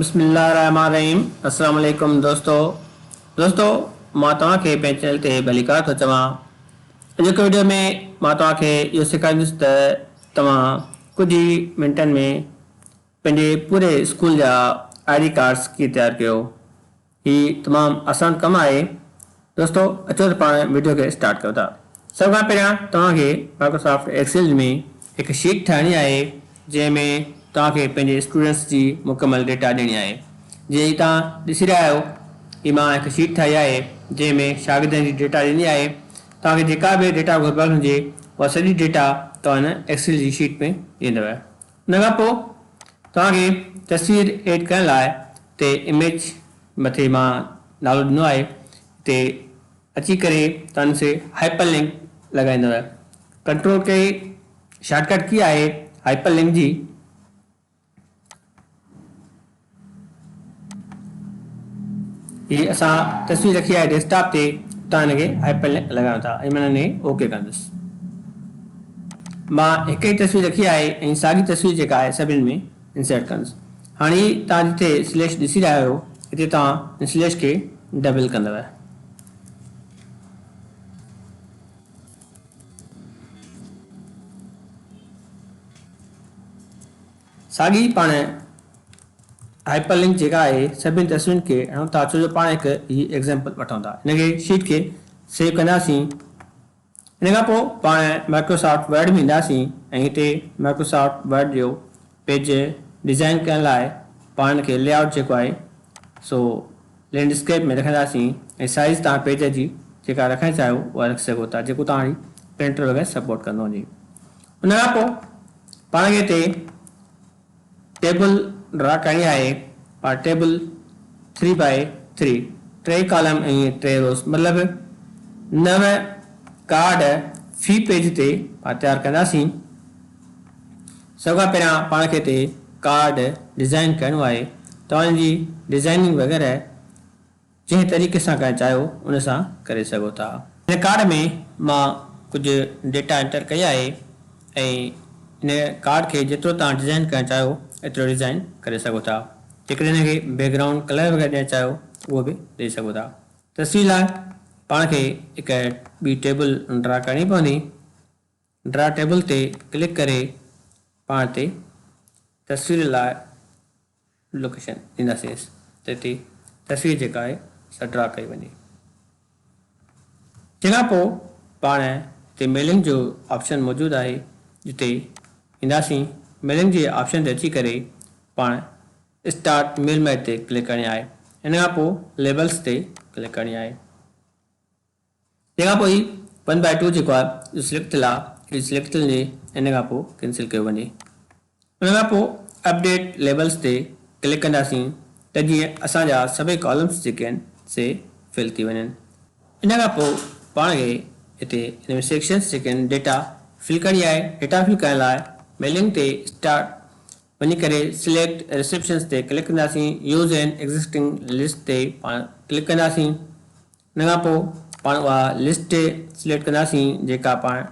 بسم الله الرحمٰن الرحيم السلام عليڪم دوستو دوستو مان توهان کي پنهنجي چينل تي ڀليڪار ٿو چوان اڄوڪي وڊيو ۾ مان توهان کي اهو سيکاريندس ته توهان ڪجهه ئي منٽن ۾ پنهنجي پوري اسڪول جا آئي ڊي ڪارڊس ڪيئن تيار ڪيو هي تمام آسان ڪم آهي دوستو اچو ته پاڻ وڊيو کي اسٽارٽ ڪيون ٿا سڀ کان پهريان توهان کي مائڪروسافٽ ايڪسل ۾ هڪ شيٽ ٺاهڻي آهي جنهن ۾ توهان کي پنهنجي اسٽوڊنٽس جي مڪمل ڊيٽا ڏيڻي آهي جيئن هي توهان ڏسي رهيا آهيو هي مان هڪ شيٽ ٺاهي آهي جنهن ۾ شاگردن جي ڊيٽا ڏني آهي توهان کي جيڪا به ڊيٽا گهربل هجي اها سڄي ڊيٽا توهان هن ايڪسل جي شيٽ ۾ ڏيندو ان کان پوء توهان کي تصوير ايڊ ڪرڻ لاء تي اميج مٿي مان نالو ڏنو آهي تي اچي ڪري توهان کي هائپر لنڪ لڳائيندو control key shortcut key آهي هائپر لنڪ جي. هي اسان تصوير رکي آهي ڊيسڪٽاپ تي تان هن کي هائپر لنڪ لڳايون ٿا ۽ من هني اوڪي ڪندس مان هڪ ئي تصوير رکي آهي ۽ ساڳي تصوير جيڪا آهي سڀني ۾ انسرٽ ڪندس هاڻي هي تان جتي سليش ڏسي رهيا آهيو هتي تان هن سليش کي ڊبل ڪندو ساڳي پاڻ هائپر لنڪ جيڪا آهي سڀني تصويرن کي هڻون ٿا ڇو جو پاڻ هڪ هي ايگزيمپل وٺون ٿا هن کي شيٽ کي سيو ڪنداسين ان کان پوء پاڻ مائڪروسافٽ ورڊ ۾ اينداسين ۽ هتي مائڪروسافٽ ورڊ جو پيج ڊزائن ڪرڻ لاء پاڻ ان کي لي آئوٽ جيڪو آهي سو لينڊسڪيپ ۾ رکنداسين ۽ سائيز تان پيج جي جيڪا رکڻ چاهيو اها رکي سگهو ٿا جيڪو توهان جي پرنٽر وغيره سپورٽ ڪندو وڃي ان کان پوء پاڻ کي هتي ٽيبل ڊرا ڪرڻي آهي پر ٽيبل ٿري بائي ٿري، ٽي ڪالم ۽ ٽي روز مطلب نو ڪارڊ في پيج تي پاڻ تيار ڪنداسين. سڀ کان پهريان پاڻ کي هتي ڪارڊ ڊزائين ڪرڻو آهي ته ان جي ڊزائيننگ وغيره، جنهن طريقي سان ڪنهن چاهيو ان سان ڪري سگهو ٿا. هن ڪارڊ ۾ مان ڪجهه ڊيٽا انٽر ڪئي آهي ۽ هن ڪارڊ کي جيترو توهان ڊزائين ڪرڻ چاهيو ايترو ڊزائين ڪري سگهو ٿا. جيڪڏهن هن کي بيڪ گرائونڊ ڪلر وغيره ڏيڻ چاهيو ته اهو به ڏئي سگهو ٿا. تصوير لاء پاڻ کي هڪ ٻي ٽيبل ڊرا ڪرڻي پوندي. ڊرا ٽيبل تي ڪلڪ ڪري پاڻ تي تصوير لاء لوڪيشن ڏينداسينس جتي تصوير جيڪا آهي سا ڊرا ڪئي وڃي. تنهن کان پوء پاڻ هتي ميلنگ جو آپشن موجود آهي جتي اينداسين ميلنگ جي آپشن تي اچي ڪري پاڻ اسٽارٽ ميل ميٿ تي ڪلڪ ڪرڻي آهي ان کان پوء ليبلز تي ڪلڪ ڪرڻي آهي. تنهن کان پوء هي ون بائي ٽو جيڪو آهي اهو سليڪٽ ٿيل آهي اهو سليڪٽ ٿيل هجي ان کان پوء ڪينسل ڪيو وڃي ان کان پوء اپڊيٽ ليبلز تي ڪلڪ ڪنداسين ته جيئن اسان جا سڀئي ڪالمز جيڪي آهن سي فل ٿي وڃن ان کان پوء پاڻ کي هتي هن ۾ سيڪشنز جيڪي آهن ڊيٽا فل ڪرڻي آهي ڊيٽا فل ڪرڻ لاء ميلنگ تي اسٽارٽ وڃي ڪري سليڪٽ ريسيپشنز تي ڪلڪ ڪنداسين يوز اين ايگزسٽنگ لسٽ تي پاڻ ڪلڪ ڪنداسين ان کان پوء پاڻ اها لسٽ سليڪٽ ڪنداسين جيڪا پاڻ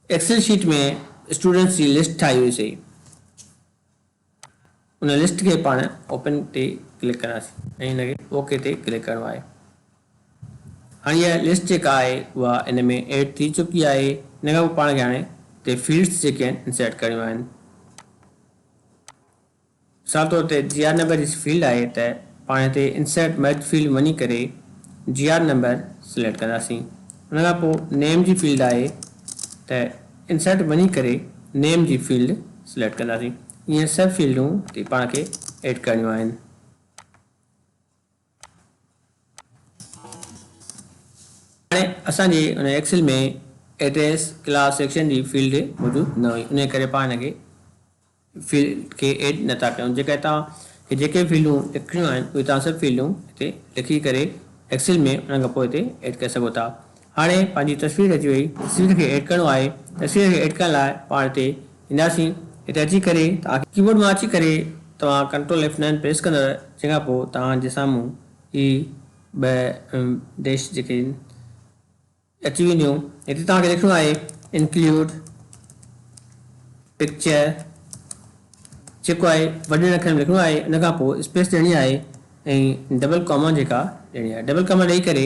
ايڪسل شيٽ ۾ اسٽوڊنٽس جي لسٽ ٺاهي هئي سي ان لسٽ کي پاڻ اوپن تي ڪلڪ ڪنداسين ۽ ان کي اوڪي تي ڪلڪ ڪرڻو آهي هاڻي اها لسٽ جيڪا آهي اها ان ۾ ايڊ ٿي چڪي آهي ان کان پوء پاڻ کي هاڻي تي فيلڊس جيڪي آهن انسرٽ ڪرڻيون آهن مثال طور تي جي آر نمبر جي فيلڊ آهي ته پاڻ هتي انسرٽ مرج فيلڊ ۾ وڃي ڪري جي آر نمبر سليڪٽ ڪنداسين ان کان پوء نيم جي فيلڊ آهي ته انسرٽ وڃي ڪري نيم جي فيلڊ سليڪٽ ڪنداسين ايئن سڀ فيلڊون هتي پاڻ کي ايڊ ڪرڻيون آهن. هاڻي اسان جي ان ايڪسل ۾ ايڊريس ڪلاس سيڪشن جي فيلڊ موجود نه هئي انهي ڪري پاڻ هن کي فيلڊ کي ايڊ نه ٿا ڪيون جيڪڏهن توهان کي جيڪي فيلڊون لکڻيون آهن اهي توهان سڀ فيلڊون هتي لکي ڪري ايڪسل ۾ انهن کان پوء هتي ايڊ ڪري سگهو ٿا هاڻي پنهنجي تصوير اچي وئي، تصوير کي ايڊ ڪرڻو آهي، تصوير کي ايڊ ڪرڻ لاء پاڻ هتي اينداسين، هتي اچي ڪري توهان کي ڪيبورڊ مان اچي ڪري توهان ڪنٽرول ايف نائن پريس ڪندڙ جنهن کان پوء توهان جي سامهون هي ٻه ڊيش جيڪي آهن اچي وينديون، هتي توهان کي لکڻو آهي Include Picture جيڪو آهي وڏن اکرن ۾ لکڻو آهي ان کان پوء اسپيس ڏيڻي آهي ۽ ڊبل ڪاما جيڪا ڏيڻي آهي ڊبل ڪاما ڏئي ڪري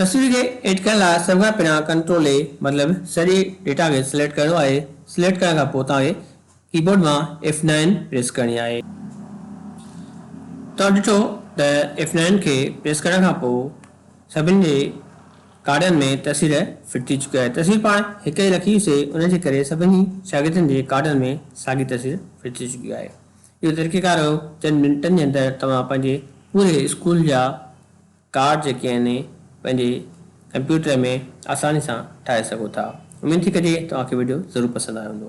تصوير کي ايڊٽ ڪرڻ لاء سڀ کان پهريان ڪنٽرول اي مطلب سڄي ڊيٽا کي سليڪٽ ڪرڻو آهي، سليڪٽ ڪرڻ کان پوء توهان کي ڪيبورڊ مان ايف نائن پريس ڪرڻي آهي. توهان ڏٺو ته ايف نائن کي پريس ڪرڻ کان پوء سڀني جي ڪارڊن ۾ تصوير فٽ ٿي چڪي آهي. تصوير پاڻ هڪ ئي رکي هئيسي ان جي ڪري سڀني شاگردن جي ڪارڊن ۾ ساڳي تصوير فٽ ٿي چڪي آهي. اهو طريقيڪار هيو چند منٽن جي اندر توهان پنهنجي پوري اسڪول جا ڪارڊ جيڪي آهن پنهنجي ڪمپيوٽر ۾ آساني سان ٺاهي سگهو ٿا اميد ٿي ڪجي توهان کي وڊيو ضرور پسند آيو هوندو.